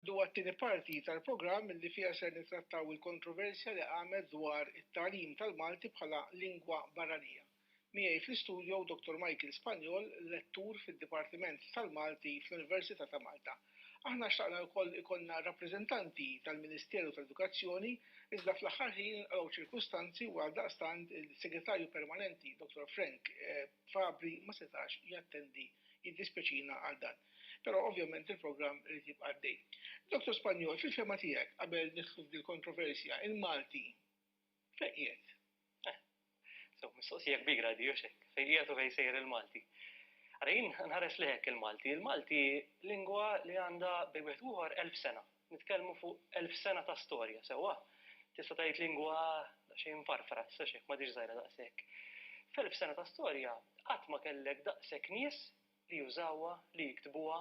dwar it-tieni parti tal-programm li fiha ser nittrattaw il-kontroversja li qamet dwar it-tagħlim tal-Malti bħala lingwa barranija. Miegħi fl-istudio Dottor Michael Spagnol, lettur fid-Dipartiment tal-Malti fl-Università ta' Malta. Aħna xtaqna wkoll ikollna rappreżentanti tal-Ministeru tal-Edukazzjoni iżda fl-aħħar ħin inqalgħu ċirkustanzi u għaldaqstant il-Segretarju Permanenti Dottor Frank Fabri ma setax jattendi, jiddispjaċina għal dan. Però ovvjament il-programm irid jibqa' għaddej. Dottor Spagnol, fil-fehma tiegħek, qabel nidħlu f'dil-kontroversja, il-Malti fejn qiegħed? Sew, mistoqsija kbira di, hux hekk? Fejn qiegħed u fejn sejjer il-Malti? Ara jien nħares lejh hekk il-Malti, il-Malti lingwa li għandha bejn wieħed u ieħor elf sena. Nitkellmu fuq elf sena ta' storja, sewwa? Tista' tgħid lingwa daqsxejn mfarfra, issa hux hekk, m'għadhiex żgħira daqshekk. F'elf sena ta' storja qatt ma kellek daqshekk nies li jużawha, li jiktbuha,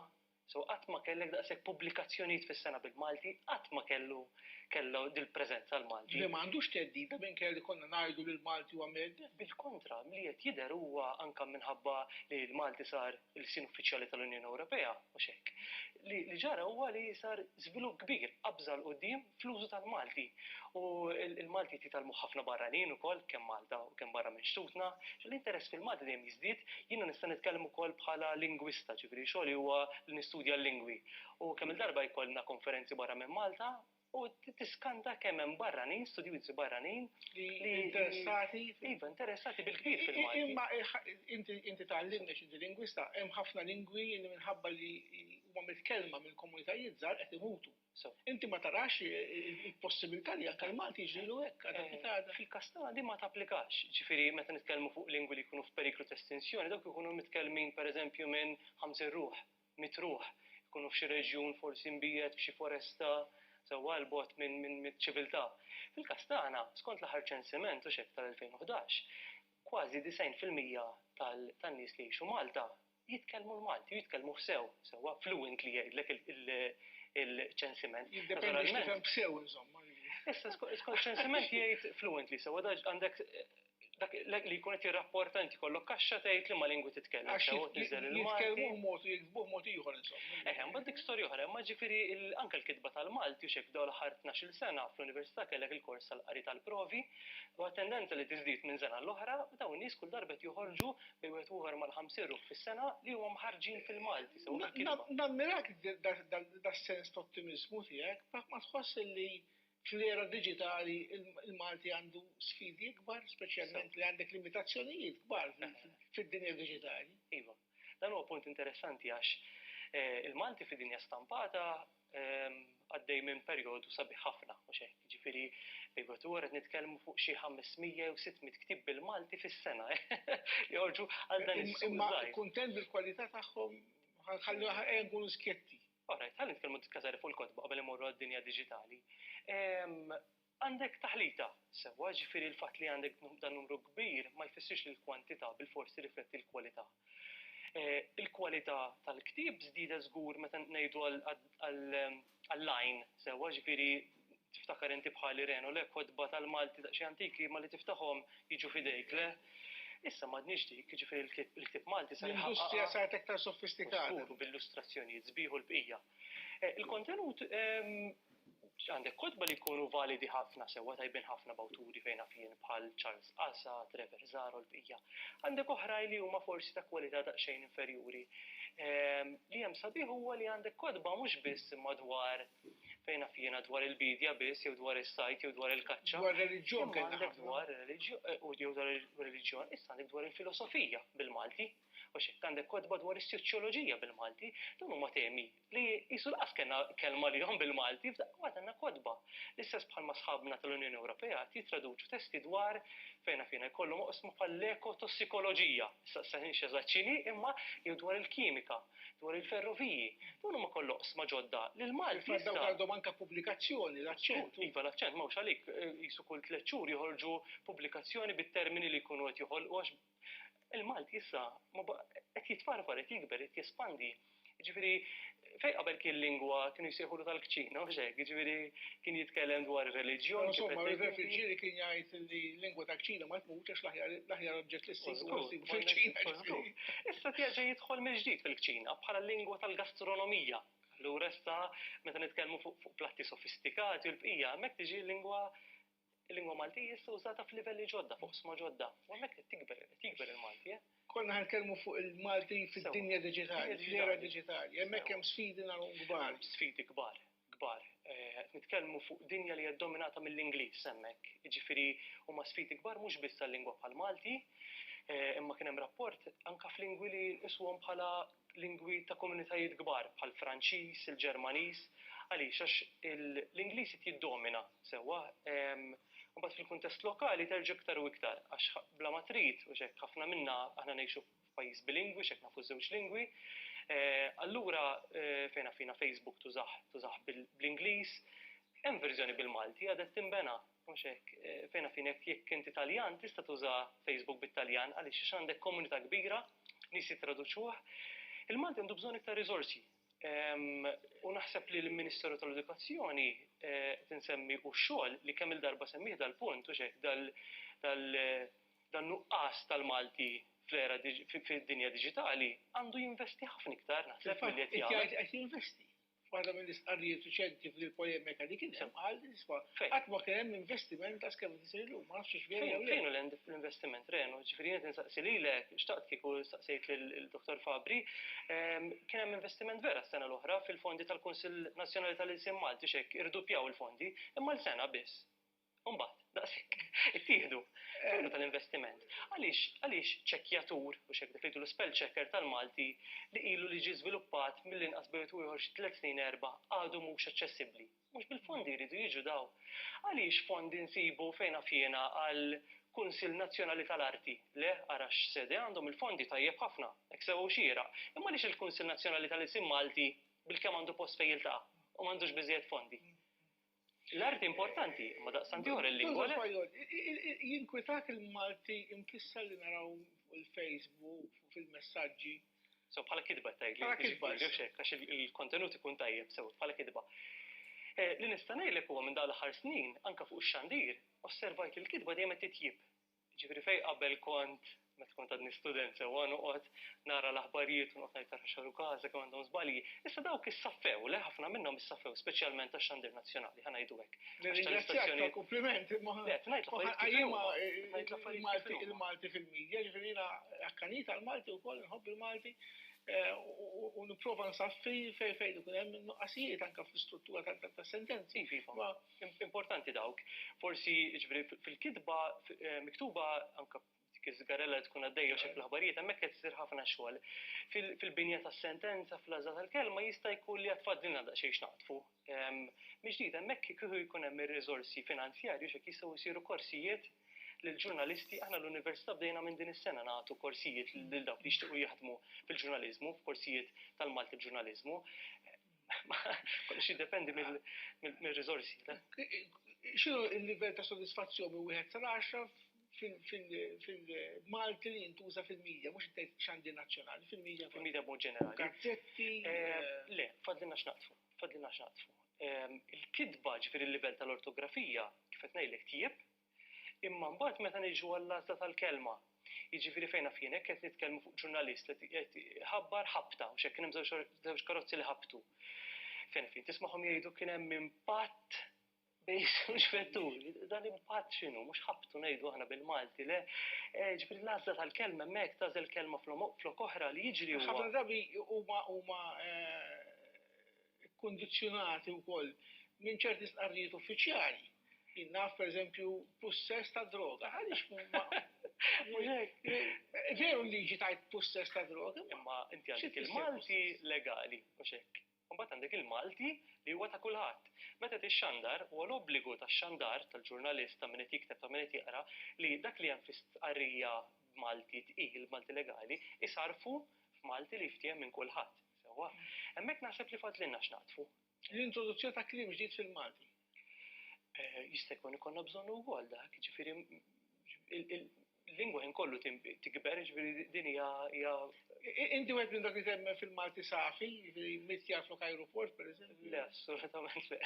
so qatt ma kellek daqshekk pubblikazzjonijiet fis-sena bil-Malti, qatt ma kellu kellha dil-preżenza l-Malti. Le ma għandux theddida minkejja li konna ngħidu li l-Malti huwa mhedded? Bil-kontra, milli qed jidher huwa anke minħabba li l-Malti sar il-sin uffiċjali tal-Unjoni Ewropea, mhux hekk? Li ġara huwa li sar żvilupp kbir, qabża 'l quddiem, fl-użu tal-Malti. U l-Malti qed jitgħallmu ħafna barranin ukoll kemm Malta u kemm barra minn xtutna. L-interess fil-Malti dejjem jiżdied, jiena nista' nitkellem ukoll bħala lingwista, ġifieri xogħli huwa li nistudja l-lingwi. U kemm-il darba jkollna konferenzi barra minn Malta u tiskanta kemm hemm barranin, studjużi barranin li. Interessati. Iva, interessati bil-kbir fil-Malti. Imma inti tgħallimni x'inti lingwista, hemm ħafna lingwi li minħabba li huma mitkellma mill-komunitajiet żgħar qed imutu. Inti ma tarax il-possibilità li anke l-Malti jiġrilu hekk għadha kif għadha? Fil-każ tagħna din ma tapplikax. Jiġifieri meta nitkellmu fuq lingwi li jkunu f'periklu ta' estinzjoni, dawk ikunu mitkellmin pereżempju minn 50 ruħ, 100 ruħ, ikunu f'xi reġjun forsi mbiegħed f'xi foresta sewwa 'l bogħod miċ-ċiviltà. Fil-każ tagħna, skont l-aħħar ċensiment, hux hekk, tal-2011, kważi 90 fil-mija tan-nies li jgħixu Malta jitkellmu l-Malti u jitkellmuh sew, sewwa fluently jgħidlek il-ċensiment. Jiddependi x'kif hemm b'sew insomma. Issa skont ċensiment jgħid fluently sewwa għandek dak li jkun qed jirrapporta inti kollok kaxxa tgħid li ma lingwi titkellem sew tiżel il-Malti. Jitkellmu mod u jiktbuh mod ieħor insomma. Eh, imbagħad dik storja oħra, imma ġifieri anke l-kitba tal-Malti u xek dawn l-aħħar tnax-il sena fl-università kellek il-kors tal-qari tal-provi u tendenza li tiżdied minn sena l-oħra dawn nies kull darba qed joħorġu bejn wieħed u ieħor mal-ħamsin ruħ fis-sena li huma mħarrġin fil-Malti sew bil-kelma. Nammirak das-sens ta' ottimiżmu tiegħek, ma tħoss li fl-era diġitali l-Malti għandu sfidi ikbar, speċjalment li għandek limitazzjonijiet kbar fid-dinja diġitali? Iva. Dan huwa punt interessanti għax il-Malti fid-dinja stampata għaddej minn perjodu sabiħ ħafna, mhux hekk. Jiġifieri bejn wieħed u qed nitkellmu fuq xi 500 jew 600 ktieb bil-Malti fis-sena li joħorġu għal dan is-suq żgħir. Kuntent bil-kwalità tagħhom ħallu ħajja nkunu skjetti. Orajt, ħalli nitkellmu diskasari fuq il-kotba qabel imorru għad-dinja diġitali. Għandek taħlita, sewwa, jiġifieri l-fatt li għandek dan numru kbir ma jfissirx li l-kwantità bilfors tirrifletti l-kwalità. Il-kwalità tal-ktieb żdiedet żgur meta ngħidu għall-għajn, sewwa, jiġifieri tiftakar inti bħali Reno, le, kotba tal-Malti daqsxejn antiki imma li tiftaħhom jiġu f'idejk, le? Issa m'għadniex dik, jiġifieri l-ktieb Malti sar iħaqqaqha. L-industrija saret iktar sofistikata. Żgur, u b'illustrazzjonijiet sbieħ u l-bqija. Il-kontenut Għandek kotba li jkunu validi ħafna sewwa, tajbin ħafna b'awturi fejn naf jien bħal Charles Qasa, Trevor Zahra u l-bqija. Għandek oħrajn li huma forsi ta' kwalità daqsxejn inferjuri. Li hemm sabiħ huwa li għandek kotba mhux biss imma dwar, fejn naf jiena, dwar il-biedja biss jew dwar is-sajd jew dwar il-kaċċa. Dwar ir-reliġjon kellna ħafna. Imma għandek dwar ir-reliġjon, jew dwar ir-reliġjon, issa għandek dwar il-filosofija bil-Malti. U x'hekk għandek kotba dwar is-soċjoloġija bil-Malti. Dawn huma temi li qisu laqas kellna kelma għalihom bil-Malti, f'daqqa waħda għandna kotba. L-istess bħalma sħabna tal-Unjoni Ewropea qed jittraduċu testi dwar, fejn naf jiena, jkollhom oqsma bħall-ekotossikoloġija, nistaqsinix eżatt x'inhi, imma jew dwar il-kimika, dwar il-ferroviji. Dawn huma kollha oqsma ġodda li l-Malti issa. Fil-fatt dawk għandhom anke pubblikazzjoni, l-aċċentu. Iva, l-aċċent, m'hawnx għalik, qisu kull tliet xhur joħorġu pubblikazzjoni bit-termini li jkunu qed joħolqu għax Il-Malti issa qed jitfarfar, qed jikber, qed jespandi. Ġifieri, fejn qabel kien lingwa kienu jsejħulu tal-kċina, mhux hekk, ġifieri kien jitkellem dwar ir-reliġjon. Insomma, ir-refuġieri kien jgħid li lingwa tal-kċina ma tmutx għax l-aħjar oġġett li ssibu fil-kċina. Issa tjaġa jidħol mill-ġdid fil-kċina bħala lingwa tal-gastronomija. Allura issa meta nitkellmu fuq platti sofistikati u l-bqija, hemmhekk tiġi lingwa Il-lingwa Malti hi issa użata f'livelli ġodda, f'oqsma ġodda, u hemmhekk qed tikber, qed jikber il-Malti, eh. Konna qed nitkellmu fuq il-Malti fid-dinja diġitali, fl-era diġitali. Hemmhekk hemm sfidi nagħlhom kbar. Sfidi kbar, kbar. Qed nitkellmu fuq dinja li hija ddominata mill-Ingliż hemmhekk. Jiġifieri huma sfidi kbar mhux biss għal lingwa bħall-Malti, imma kien hemm rapport anke f'lingwi li nqisuhom bħala lingwi ta' komunitajiet kbar bħall-Franċiż, il-Ġermaniż. Għaliex? Għax l-Ingliż qed jiddomina sewwa. Imbagħad fil-kuntest lokali terġa' iktar u iktar għax bla ma trid, u x'hekk ħafna minna aħna ngħixu f'pajjiż bilingwi, x'hekk nafu ż-żewġ lingwi. Allura fejn għafina Facebook tużah bl-Ingliż, hemm verżjoni bil-Malti għadha qed tinbena. Mhux hekk. Fejna fin hekk jekk inti Taljan tista' tuża Facebook bit-Taljan għaliex għax għandek komunità kbira, nies jittraduċuh. Il-Malti għandu bżonn iktar riżorsi. U naħseb li l-Ministeru tal-Edukazzjoni qed insemmi u x-xogħol li kemm-il darba semmieh dal-punt, mhux hekk, dan-nuqqas tal-Malti fl-era fid-dinja diġitali għandu jinvesti ħafna iktar naħseb milli qed jagħmel. Qed jinvesti. F'waħda mill-istqarrijiet riċenti f'din il-polemika li kien hemm qal li isma' qatt ma kien hemm investiment ta' skeletri ta' illum, ma nafx hux vera jew le. Fejn hu l-investiment, Renu? Ġifieri jien qed insaqsi lilek, xtaqt kieku staqsejt lill-Dottor Fabri, kien hemm investiment vera s-sena l-oħra fil-fondi tal-Kunsill Nazzjonali tal-Ilsien Malti, x'hekk irduppjaw il-fondi, imma l-sena biss. Mbagħad, daqshekk, ittieħdu f'għajnuna tal-investiment. Għaliex għaliex ċekkjatur, mhux hekk dak li jgħidulu spell checker tal-Malti, li ilu li ġie żviluppat mill-inqas bejn wieħed u ieħor xi tliet snin, erba', għadu mhux aċċessibbli? Mhux bil-fondi jridu jiġu dawn? Għaliex fondi nsibu fejn naf jiena għal Kunsill Nazzjonali tal-Arti? Le, ara x'sede għandhom il-fondi, tajjeb ħafna, hekk sewa u xieraq. Imma għaliex il-Kunsill Nazzjonali tal-Ilsien Malti bilkemm għandu post fejn jiltaqa' u m'għandux biżżejjed fondi? L-arti importanti, imma daqstant ieħor il-lingwa le. Jinkwitak il-Malti imkisser li naraw il-Facebook, fil-messaġġi. So bħala kidba tajt li. Bħala kidba. Għax il-kontenut ikun tajjeb, sew bħala kidba. Eh, li nista' ngħidlek huwa minn dawn l-aħħar snin, anke fuq ix-xandir, osservajt li l-kidba dejjem qed titjib. Ġifieri fejn qabel kont, meta kont għadni student sewwa, noqgħod nara l-aħbarijiet u noqgħod ngħid ara x'għalu Gaza, kemm għandhom żbalji. Issa dawk issaffew, le ħafna minnhom issaffew, speċjalment tax-xandir nazzjonali, ħa ngħidu hekk. Nirringrazzjak tal-kumpliment imma ma ħanqajjimha il-Malti fil-media, ġifieri jiena akkanit għall-Malti wkoll, inħobb il-Malti u nipprova nsaffi fejn ikun hemm in-nuqqasijiet anke fl-istruttura tas-sentenzi. Importanti dawk. Forsi, ġifieri, fil-kitba miktuba anke dik iż-żgarella li tkun għaddejja xi fl-aħbarijiet hemmhekk qed isir ħafna xogħol. Fil-binja tas-sentenza, fl-għażla tal-kelma jista' jkun li għad fadlilna daqsxejn x'naqdfu. Mill-ġdid hemmhekk kieku jkun hemm ir-riżorsi finanzjarji biex hekk jistgħu jsiru korsijiet lill-ġurnalisti. Aħna l-Università bdejna minn din is-sena nagħtu korsijiet lil dawk li jixtiequ jaħdmu fil-ġurnaliżmu, korsijiet tal-Malti b'Ġurnaliżmu. Kollox jiddependi mill-riżorsi. X'inhu l-livell ta' sodisfazzjon minn wieħed sal għaxra fil-Malti li jintuża fil-media, mhux tgħid x'għandi nazzjonali, fil-media. Fil-media b'mod ġenerali. Gazzetti. Le, fadlilna x'naqtfu, fadlilna x'naqtfu. Il-kitba, ġifieri l-livell tal-ortografija, kif qed ngħidlek tjieb, Imma mbagħad meta niġu għall-għażla tal-kelma, jiġifieri fejn naf jien jekk qed nitkellmu fuq ġurnalist li qed iħabbar ħabta, mhux hekk kien hemm żewġ karozzi li ħabtu. Fejn naf jien tismagħhom jgħidu kien hemm impatt bejn żewġ vetturi. Dan impatt x'inhu? Mhux ħabtu ngħidu aħna bil-Malti, le? Jiġifieri l-għażla tal-kelma hemmhekk tagħżel kelma flok oħra li jiġri huwa. Ħafna drabi huma ikkundizzjonati wkoll minn ċerti stqarrijiet uffiċjali. Jien naf pereżempju pussess ta' droga, għaliex Veru l-liġi tajt pussess ta' droga. Imma inti għandek il-Malti legali, mhux hekk. Imbagħad għandek il-Malti li huwa ta' kulħadd. Meta tixxandar, huwa l-obbligu tax-xandar tal-ġurnalist, ta' min qed jikteb, ta' min qed jaqra, li dak li hemm fi stqarrija b'Malti tqil, b'Malti legali, isarrfu f'Malti li jiftiehem minn kulħadd. Sewwa, hemmhekk naħseb li fadlilna x'naqdfu. L-introduzzjoni ta' kliem ġdid fil-Malti. Eh, jista' jkun ikollna bżonn ukoll dak, ġifieri il-lingwa ħin kollu tikber, ġifieri din hija. Inti wieħed minn dak li temmen fil-Malti safi, ġifieri mit jaf lok aeroport pereżempju. Le, assolutament le.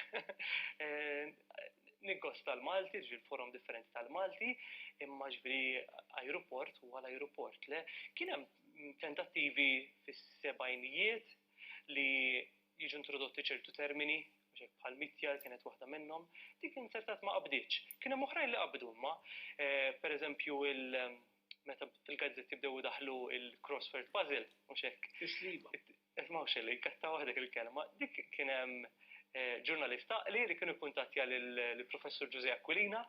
Eh, Nikkost tal-Malti, ġifieri forom differenti tal-Malti, imma ġifieri aeroport huwa l-aeroport. Le, kien hemm tentattivi fis-sebgħinijiet li jiġu introdotti ċertu termini, mhux bħal mitjar kienet waħda minnhom, dik inzertat ma qabditx. Kien hemm oħrajn li qabdu imma, eh, pereżempju il- meta fil-gazzetti bdew daħlu il-crossword puzzle, mhux hekk. Isliba. Isma' xi li kattaw waħdek il-kelma, dik kien hemm eh, ġurnalist taqli li kienu kuntattja lill-professur Ġuże Aquilina,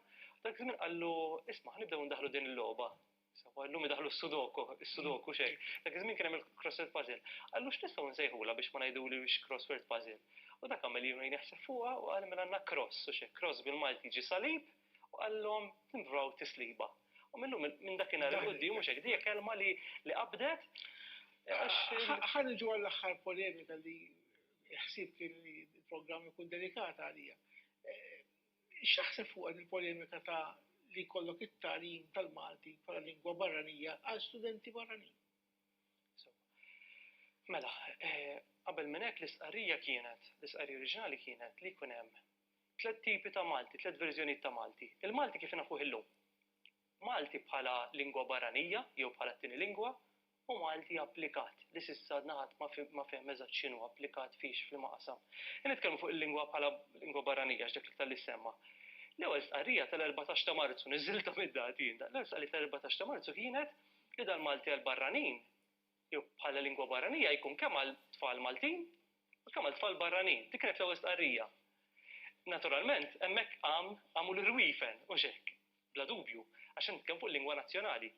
dak żmien qallu isma' ħnibdew ndaħlu din il-logħba Sawa, illum idaħlu s-sudoku, is-sudoku xejn. Dak iż-żmien kien hemm il-crossword puzzle. Qallu x'nistgħu nsejħulha biex ma ngħiduli wiex crossword puzzle. U dak għamel ilu jneħseb fuqha u qal mela għandna cross u xejn. Cross bil-Malti jiġi salib u qallhom tinvraw tisliba. U mil-lum minn dakinhar il quddiem mhux hekk, dija kelma li li qabdet għax. Ħa niġu għall-aħħar polemika li ħsieb kien li l-programm ikun dedikat għalija. X'taħseb fuqha dil-polemika ta' li jkollok it-tagħlim tal-Malti bħala lingwa barranija għal studenti barranin? Insomma. Mela, qabel minn hekk l-istqarrija kienet, l-istqarrija oriġinali kienet li jkun hemm tliet tipi ta' Malti, tliet verżjonijiet ta' Malti. Il-Malti kif nafuh illum. Malti bħala lingwa barranija jew bħala t-tieni lingwa, u Malti applikat, li s'issa għadna ħadd ma fehem eżatt x'inhu applikat fiex, f'liema qasam. Jekk nitkellmu fuq il-lingwa bħala lingwa barranija, għax dak l-iktar li ssemma', l-ewwel stqarrija tal-erbatax ta' Marzu, niżżiltha mid-dati jien, l-ewwel stqarrija tal-erbatax ta' Marzu kienet li dal-Malti għall-barranin, jew bħala lingwa barranija, jkun kemm għal tfal Maltin u kemm għal tfal barranin. Dik kienet l-ewwel stqarrija. Naturalment, hemmhekk qam, qamu l-irwiefen, hux hekk? Bla dubju, għax qed nitkellmu fuq lingwa nazzjonali.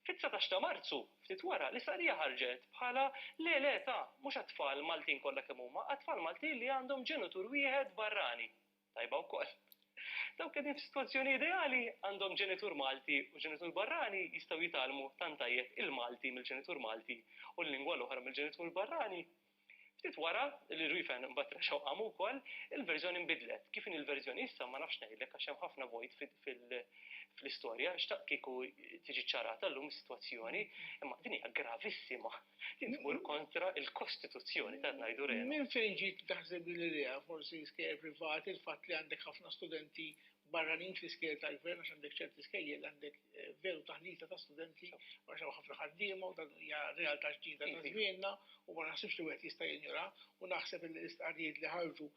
Fit-dsatax ta' Marzu, ftit wara, l-istqarrija ħarġet bħala le le ta' mhux għat-tfal Maltin kollha kemm huma, għat-tfal Maltin li għandhom ġenitur wieħed barrani. Tajba wkoll. Dawk li qegħdin f'sitwazzjoni ideali, għandhom ġenitur Malti u ġenitur barrani, jistgħu jitgħallmu tant tajjeb il-Malti mill-ġenitur Malti u l-lingwa l-oħra mill-ġenitur barrani. Ftit wara li Ruifen mbagħad rexgħu qamu wkoll, il-verżjoni nbidlet. Kif inhi l-verżjoni issa ma nafx ngħidlek għax hemm ħafna vojt fl-istorja, xtaqt kieku tiġi ċċarata llum is-sitwazzjoni, imma din hija gravissima. Din tmur kontra l-Kostituzzjoni ta' ngħidu rena. Minn fejn ġiet taħseb din l-idea, forsi skejjer privati, il-fatt li għandek ħafna studenti barranin fl-iskejjel tal-gvern għax għandek ċerti skejjel għandek veru taħlita ta' studenti u għax hawn ħafna ħaddiema u dan hija realtà ġdida ta' żmienna u ma naħsibx li wieħed jista' jinjoraha u naħseb li l-istqarrijiet li ħarġu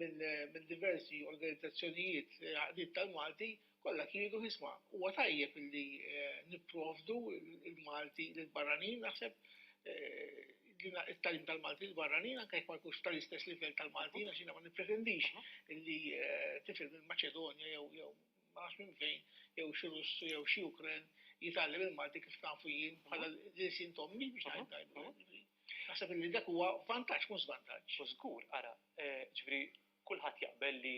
minn diversi organizzazzjonijiet għaqdiet tal-Malti kollha kienu isma' huwa tajjeb li nipprovdu l-Malti lill-barranin naħseb it-tagħlim tal-Maltin barranin anke jekk ma jkunx tal-istess livell tal-Maltin għax jiena ma nippretendix li eh, tifel minn Maċedonja jew jew ma nafx minn fejn jew xi Russu jew xi Ukren jitgħallem il-Malti kif nafu jien bħala l-sin tommi biex ngħid tajbu. Naħseb li dak huwa vantaġġ mhux żvantaġġ. U żgur, ara, eh, ġifieri kulħadd jaqbel li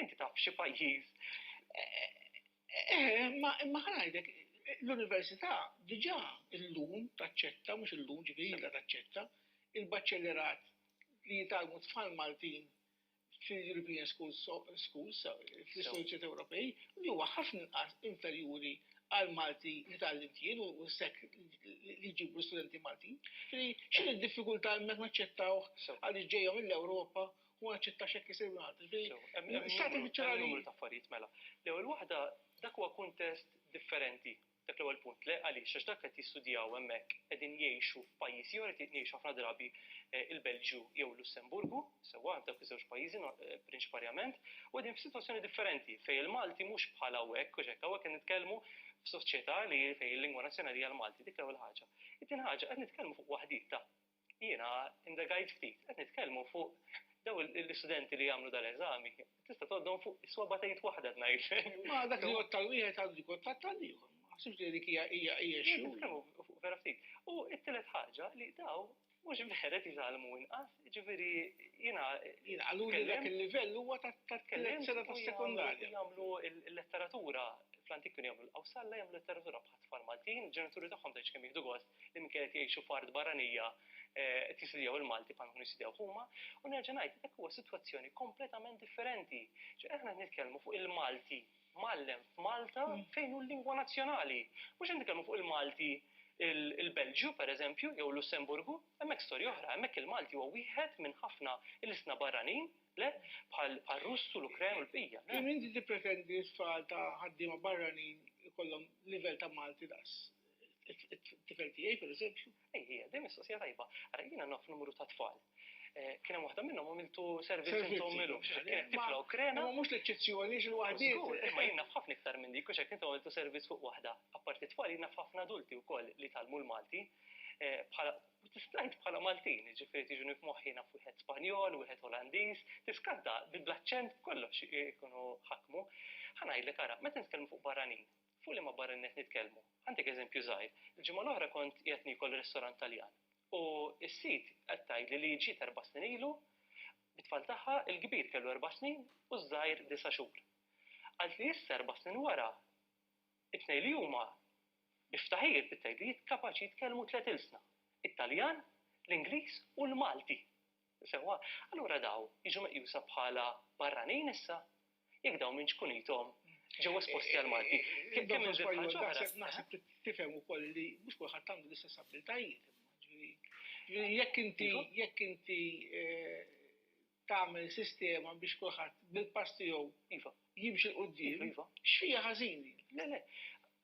Inti taf f'xi pajjiż. Imma ħa ngħidlek, l-università diġà llum taċċetta, mhux illum, ġifieri ilha taċċetta, il-baċellerat li jitgħallmu t-tfal Maltin fil-European Schools, fl-istituzzjonijiet Ewropej, li huwa ħafna inqas inferjuri għall-Malti li tgħallimt jien u s-sekk li jġibu l-istudenti Maltin. Ġifieri x'inhi d-diffikultà hemmhekk naċċettawh għaliex ġejja mill-Ewropa u naċċettax jekk isir wieħed. Numru ta' affarijiet mela. L-ewwel waħda dak huwa kuntest differenti. Dak l-ewwel punt. Le għaliex għax dak qed jistudjaw hemmhekk qegħdin jgħixu f'pajjiż ieħor qed jgħixu ħafna drabi eh, il-Belġju jew Lussemburgu, sewwa dak iż-żewġ pajjiżi eh, prinċiparjament, u qegħdin f'sitwazzjoni differenti fejn il-Malti mhux bħal hawnhekk u hekk hawnhekk qed nitkellmu f'soċjetà li fejn il-lingwa nazzjonali hija l-Malti dik l-ewwel ħaġa. It-tieni ħaġa qed nitkellmu fuq waħdita Jiena indagajt ftit, qed nitkellmu fuq dawn l-istudenti li jagħmlu dal-eżami, tista' tgħoddhom fuq is-swaba' ta' id waħda qed ngħidlek. Ma dak li jgħodd tal-wieħed għandu jkun tatt tal-ieħor. Ma naħsibx li dik hija hija hija xi. Qed nitkellmu fuq vera ftit. U t-tielet ħaġa li dawn mhux vera qed jitgħallmu inqas, jiġifieri jiena. Jiena qaluli li dak il-livell huwa tat-tliet sena tas-sekondarja. Jagħmlu l-letteratura fl-antik kienu jagħmlu l-qawsalla jagħmlu l-letteratura għat-tfal Maltin, il-ġenituri tagħhom tgħidx kemm jieħdu gost li minkejja qed jgħixu f'art barranija eh, qed jisidjaw il-Malti bħal nkunu jisidjaw huma, u nerġa' ngħid dak huwa sitwazzjoni kompletament differenti. Ġi aħna nitkellmu fuq il-Malti mallem f'Malta mm. fejn hu l-lingwa nazzjonali. Mhux qed nitkellmu fuq il-Malti il-Belġju, per eżempju, jew Lussemburgu, hemmhekk storja oħra, hemmhekk il-Malti huwa wieħed minn ħafna il-isna barranin Le, bħar-Russ u l-Ukren u l-bqija, le. Kemm inti tippretendi li t-tfal ta' ħaddiema barranin ikollhom livell ta' Malti daqs it-tifel tiegħi, pereżempju? Ej, hija dejjem mistoqsija tajba. Ara, jiena naf numru ta' tfal. Kien hemm waħda minnhom għamiltu servizz int u ommilu. Kienet tifla Ukrena. Imma mhux l-eċċezzjoni, għax il-waħdiet. Żgur, imma jien naf ħafna iktar minn dik, u x'hekk int għamiltu servizz fuq waħda. Apparti t-tfal, jien naf ħafna adulti wkoll li tgħallmu l-Malti. Kif ngħid bħala Maltin, jiġifieri tiġuni f'moħħi naf wieħed Spanjol, wieħed Olandiż, tiskanta bl-aċċent b'kollox ikunu ħakmu. Ħa ngħidlek ara, meta nitkellmu fuq barranin, fuq liema barranin qed nitkellmu? Ħantik eżempju żgħir, il-ġimgħa l-oħra kont qiegħed niekol ristorant Taljan u s-sid qed tgħidli li ġiet erba' snin ilu bit-tfal tagħha, il-kbir kellu erba' snin u ż-żgħir disa' xhur. Qaltli issa erba' snin wara It-tnejn li huma bi ftaħir bit-tgħidijiet kapaċi jitkellmu tliet ilsna, it-Taljan, l-Ingliż u l-Malti. Sewwa, allura dawn jiġu meqjusa bħala barranin issa? Jekk dawn minn ċkunithom ġew esposti għall-Malti. Kemm minn żewġ ħaġa oħra. Naħseb tifhem ukoll li mhux kulħadd għandu l-istess abbiltajiet. Jekk inti jekk inti tagħmel sistema biex kulħadd bil-pass tiegħu jimxi 'l quddiem, x'fija ħażin din? Le, le.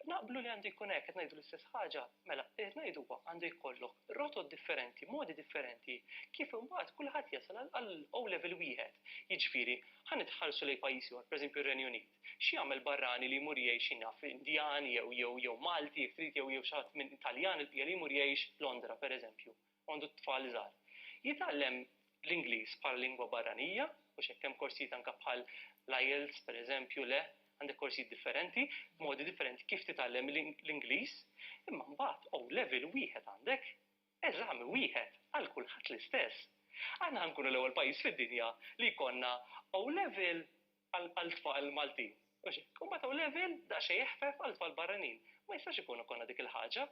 Naqblu li għandu jkun hekk, qed ngħidu l-istess ħaġa. Mela, li qed ngħidu huwa, għandu jkollok rotot differenti, modi differenti, kif imbagħad kulħadd jasal għal O Level wieħed. Jiġifieri, ħa nitħarsu lejn pajjiż ieħor, pereżempju r-Renju Unit. X'jagħmel barrani li jmur jgħix, xi naf, Indjan jew jew jew Malti jekk trid jew jew xi ħadd minn Taljan il-bqija li jmur jgħix Londra, pereżempju? għandu t-tfal żgħar, jitgħallem l-Ingliż bħala lingwa barranija, u x'hekk hemm korsijiet anke bħal l-IELTS pereżempju, le, għandek korsijiet differenti, modi differenti kif titgħallem l-Ingliż, imma mbagħad O' Level wieħed għandek, eżami wieħed għal kulħadd l-istess. Aħna ħa nkunu l-ewwel pajjiż fid-dinja li jkollna O' Level għal tfal Maltin. U mbagħad hawn level daqsxejn eħfef għal tfal barranin. Ma jistax ikun ikollna dik il-ħaġa.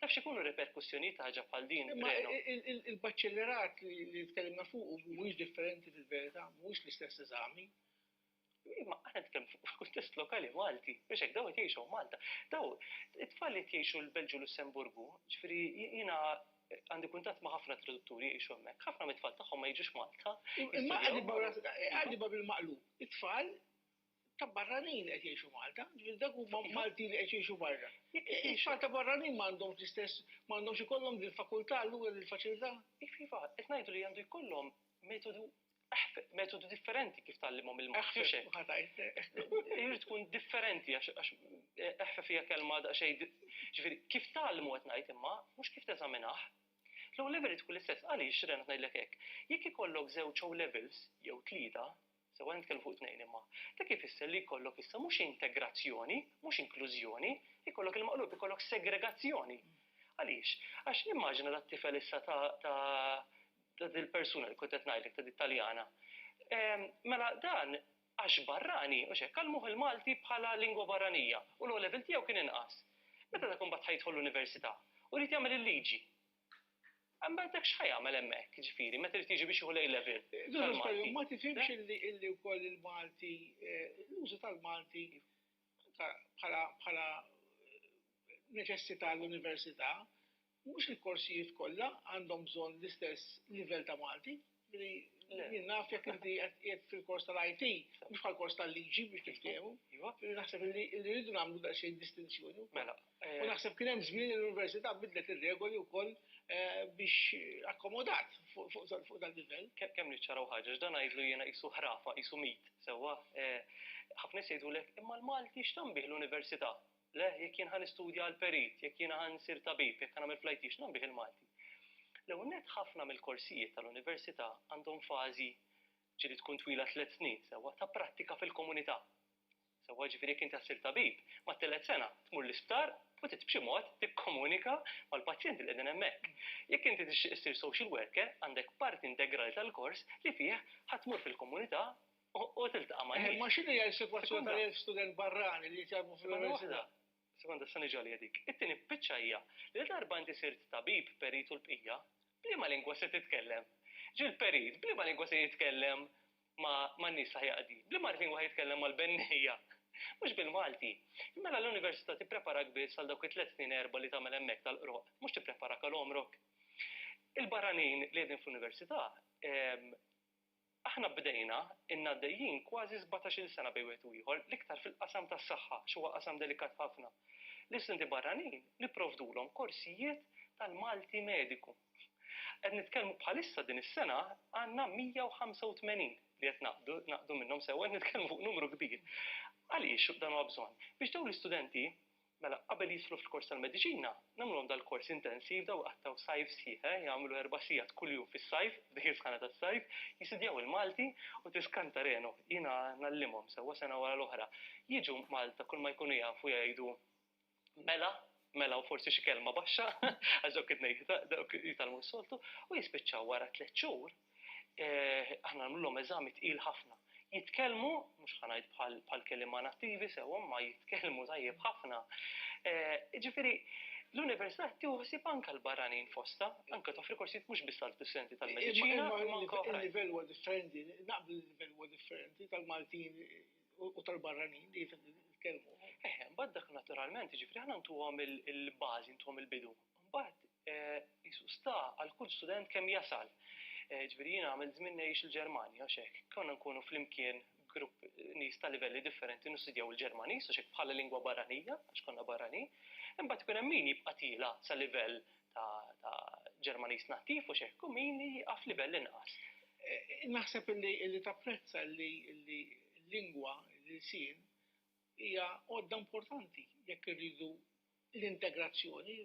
Taf x'ikunu r-riperkussjonijiet ta' ħaġa bħal din, Reno? Imma il-baċellerat li tkellimna fuqu mhuwiex differenti fil-verità, mhuwiex l-istess eżami. Imma aħna nitkellmu fuq il-kuntest lokali Malti, biex hekk dawn qed jgħixu Malta. Dawn it-tfal li qed jgħixu l-Belġju u Lussemburgu, ġifieri jiena għandi kuntat ma' ħafna tradutturi jgħixu hemmhekk, ħafna mit-tfal tagħhom ma jiġux Malta. Imma għaddi bil maqlu, it-tfal ta' barranin qed jgħixu Malta, ġifieri dak huma Malti li qed jgħixu barra. It-tfal ta' barranin m'għandhomx l-istess, m'għandhomx ikollhom din fakultà allura din faċilità. Iva, qed ngħidu li għandu jkollhom metodu Eħfef, metodu differenti kif tgħallimhom il-Malti. Eħfef, u ħa tgħid. Irid tkun differenti għax eħfef hija kelma daqsxejn ġifieri kif tgħallmu qed ngħid imma mhux kif teżaminah. L-O' level irid tkun l-istess. Għaliex Renat ngħidlek hekk? Jekk ikollok żewġ O' levels jew tlieta, sew qed nitkellmu fuq tnejn imma, dak ifisser li jkollok issa mhux integrazzjoni, mhux inklużjoni, ikollok il-maqlub, ikollok segregazzjoni. Għaliex? Għax immaġina dat-tifel issa ta' ta' dil persuna li kont qed ngħidlek ta' dik Taljana. Mela dan għax barrani, mhux hekk, għallmuh il-Malti bħala lingwa barranija u l-O level tiegħu kien inqas. Meta dak imbagħad ħa jidħol l-università u jrid jagħmel il-liġi. Imbagħad dak x'ħa jagħmel hemmhekk, ġifieri, meta jrid jiġi biex jieħu l-A level. Ma tifhimx illi wkoll il-Malti, eh, l-użu tal-Malti bħala eh, neċessità l-università Mhux il-korsijiet kollha għandhom bżonn l-istess livell ta' Malti. Ġifieri, jien naf jekk inti qed qiegħed fil-kors tal-IT, mhux bħall-kors tal-liġi biex niftehmu. Ġifieri naħseb li rridu nagħmlu daqsxejn distinzjoni wkoll. U naħseb kien hemm żmien li l-Università bidlet ir-regoli wkoll biex akkomodat fuq dan livell. Kemm niċċaraw ħaġa, għax dan għidlu jiena qisu ħrafa, qisu mit, sewwa? Ħafna nies jgħidulek, imma l-Malti x'tanbih l-Università? Le, jekk jien ħa nistudja għal perit, jekk jiena ħa nsir tabib, jekk ħa nagħmel fl-IT, x'nagħmel bih il-Malti? L-ewwel nett ħafna mill-korsijiet tal-università għandhom fażi, ġieli tkun twila tliet snin, sewwa, ta' prattika fil-komunità. Sewwa, jiġifieri jekk inti ħa ssir tabib, mat-tielet sena tmur l-isptar u trid b'xi mod tikkomunika mal-pazjenti li qegħdin hemmhekk. Jekk inti tixtieq issir social worker, għandek parti integrali tal-kors li fih ħa tmur fil-komunità U tiltaqa' ma' nies. Ma x'inhi hija s-sitwazzjoni tal-elf student barrani li jitjallmu fl-università? Sekonda, se niġi għaliha dik. It-tieni biċċa hija li la darba inti sirt tabib, perit u l-bqija, b'liema lingwa se titkellem? Ġieli l-perit b'liema lingwa se jitkellem man-nies li ħa jaqdi? B'liema lingwa ħa jitkellem mal-bennejja? Mhux bil-Malti. Mela l-università tippreparak biss għal dawk it-tliet snin erbgħa li tagħmel hemmhekk tal-qroq, mhux tippreparak għal għomrok. Il-barranin li qegħdin fl-università, Aħna bdejna, ilna għaddejjin kważi sbatax-il sena bejn wieħed u ieħor, l-iktar fil-qasam tas-saħħa għax huwa qasam delikat ħafna. L-istudenti barranin nipprovdulhom korsijiet tal-Malti Mediku. Qed nitkellmu bħalissa din is-sena għandna 185 li qed naqbdu, naqdu minnhom sewwa, qed nitkellmu fuq numru kbir. Għaliex dan huwa bżonn? Biex dawn l-istudenti Mela, qabel jidħlu fil-kors tal-mediċina, nagħmluhom dal-kors intensiv, daw iqattgħu sajf sħiħ, eh, jagħmlu erba' sigħat kuljum fis-sajf, f'dik is-sħana tas-sajf, jisidjaw il-Malti u tiskanta renu, jiena ngħallimhom sewwa sena wara l-oħra. Jiġu Malta kull ma jkunu jafu jgħidu mela, mela u forsi xi kelma baxxa, għax dawk it-tnejn jitgħallmu s-soltu, u jispiċċaw wara tliet xhur, eh, aħna nagħmluhom eżami tqil ħafna. Jitkellmu, mhux ħanajt bħal kelima nattivi sew ma jitkellmu tajjeb ħafna. Eh, ġifieri, l-Università tiħsib anka l-barranin fosta, anka toffri korsijiet mhux biss għall-studenti tal-mediċina. Il-livell huwa differenti, naqbel il-livell huwa differenti tal-Maltin u tal-barranin li jitkellmu. Eħe, eh, mbagħad dak naturalment, ġifri aħna ntuhom il-bażi, ntuhom il-bidu. Mbagħad qisu sta għal kull student kemm jasal. Ġifieri jiena għamilt żmien ngħix il-Ġermanja għax hekk konna nkunu flimkien grupp nies ta' livelli differenti nistudjaw il-Ġermaniż għax hekk bħala lingwa barranija għax konna barranin. Imbagħad ikun hemm min jibqa' tiela sa livell ta' Ġermaniż nattiv u x'hekk u min jieqaf livell inqas. Naħseb li tapprezza li l-lingwa, l-ilsien hija għodda importanti jekk irridu l-integrazzjoni,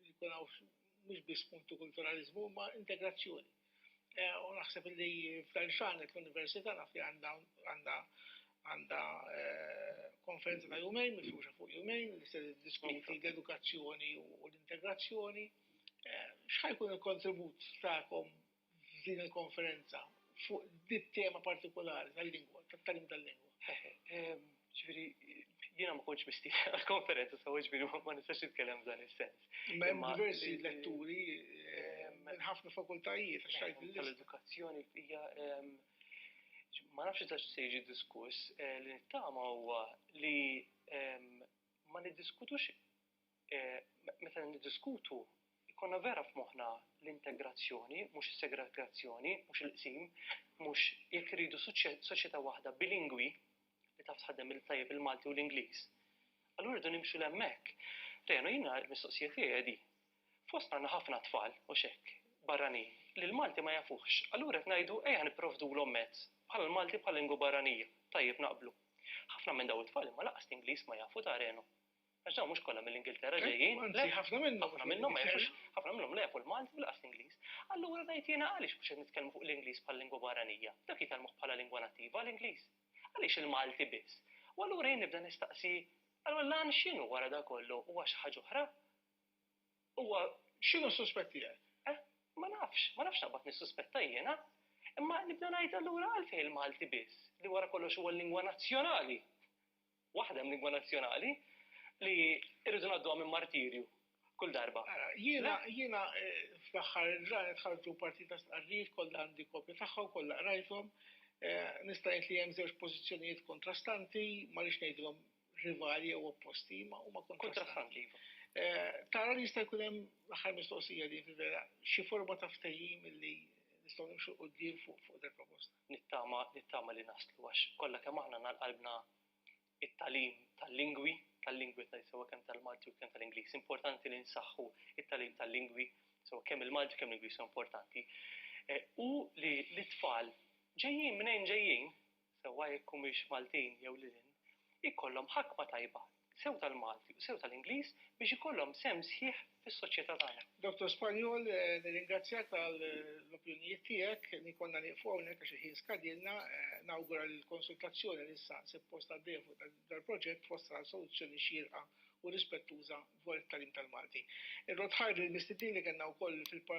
li jkun hawn mhux biss multikulturaliżmu imma integrazzjoni. Eh, u naħseb li f'dan xanet l-Università naf li għandha għandha eh, konferenza ta' jumejn, mifruxa fuq jumejn, li se diskuti l-edukazzjoni u l-integrazzjoni. Eh, xħajkun il-kontribut ta'kom f'din il-konferenza fuq dit-tema partikulari tal-lingwa, tat-tagħlim tal-lingwa. Ġifieri, jiena ma kontx mistieden għall-konferenza sewwa, ġifieri ma nistax nitkellem f'dan is-sens. Imma hemm diversi letturi minn ħafna fakultajiet għax rajt il-lista. Tal-edukazzjoni hija ma nafx eżatt x'se jiġi diskuss, li nittama huwa li ma niddiskutux meta niddiskutu jkollna vera f'moħħna l-integrazzjoni, mhux is-segregazzjoni, mhux il-qsim, mhux jekk irridu soċjetà waħda bilingwi li taf tħaddem il-tajjeb il-Malti u l-Ingliż. Allura rridu nimxu l-hemmhekk. Rejna jiena l-mistoqsija tiegħi di. Fost għandna ħafna tfal u xekk barranin li l-Malti ma jafuhx. Allura qed ngħidu ejja nipprovdulhom mezz bħal il-Malti bħala lingwa barranija. Tajjeb naqblu. Ħafna minn daw it-tfal imma lanqas l-Ingliż ma jafu ta' Reno. Għax dawn mhux kollha mill-Ingilterra eh, ġejjin. Anzi, ħafna minnhom. Ħafna minnhom ma jafux, ħafna minnhom la jafu l-Malti bilqas l-Ingliż. Allura ngħid jiena għaliex biex qed nitkellmu fuq l-Ingliż bħal lingwa barranija. Dak jitalmuh bħala lingwa nattiva l-Ingliż. Għaliex il-Malti biss? U allura jien nibda nistaqsi, allura lan x'inhu wara da kollu huwa xi ħaġa oħra? Huwa x'inhu s-suspett tiegħek? Eh, ma nafx, ma nafx naqbad nissuspetta jiena. Imma nibda ngħid allura għalfejn il-Malti biss li wara kollox huwa l-lingwa nazzjonali Waħda hemm lingwa nazzjonali li rridu ngħadduha minn martirju kull darba. Ara, jiena jiena eh, fl-aħħar ġranet ħarġu partita stqarrijiet kollha għandi kopja tagħha u kollha qrajthom. Eh, nista' ngħid li hemm żewġ pożizzjonijiet kontrastanti, ma rix ngħidilhom rivali jew opposti, ma huma kontrastanti. Iva. Eh, tara li jista' jkun hemm l-aħħar mistoqsija li vera xi forma ta' ftehim li nistgħu nimxu qudiem fuq fuq proposta. Nittama, nittama li naslu għax kollha kemm aħna għandna qalbna t-tagħlim tal-lingwi, tal-lingwi sewa kemm tal-Malti u kemm tal-Ingliż. Importanti li nsaħħu t-tagħlim tal-lingwi sewa kemm il-Malti kemm l-Ingliż huwa importanti. Eh, u li l-tfal ġejjin minn ġejjin, sewa jekk humiex Maltin jew lilin, ikollhom ħakma tajba sew tal-Malti u sew tal-Ingliż biex ikollhom sehem sħiħ fis-soċjetà tagħna. Dottor Spanjol, nirringrazzjak tal-opinjonijiet tiegħek. Nkollna nieqfu hawnhekk għax il-ħin skadilna. Nawgura li l-konsultazzjoni li issa ssib postha għaddejja fuq dal-proġett twassal għal soluzzjoni xierqa u rispettuża dwar it-tagħlim tal-Malti. Irrodd ħajr lill-mistednin li kellna wkoll fil-panel.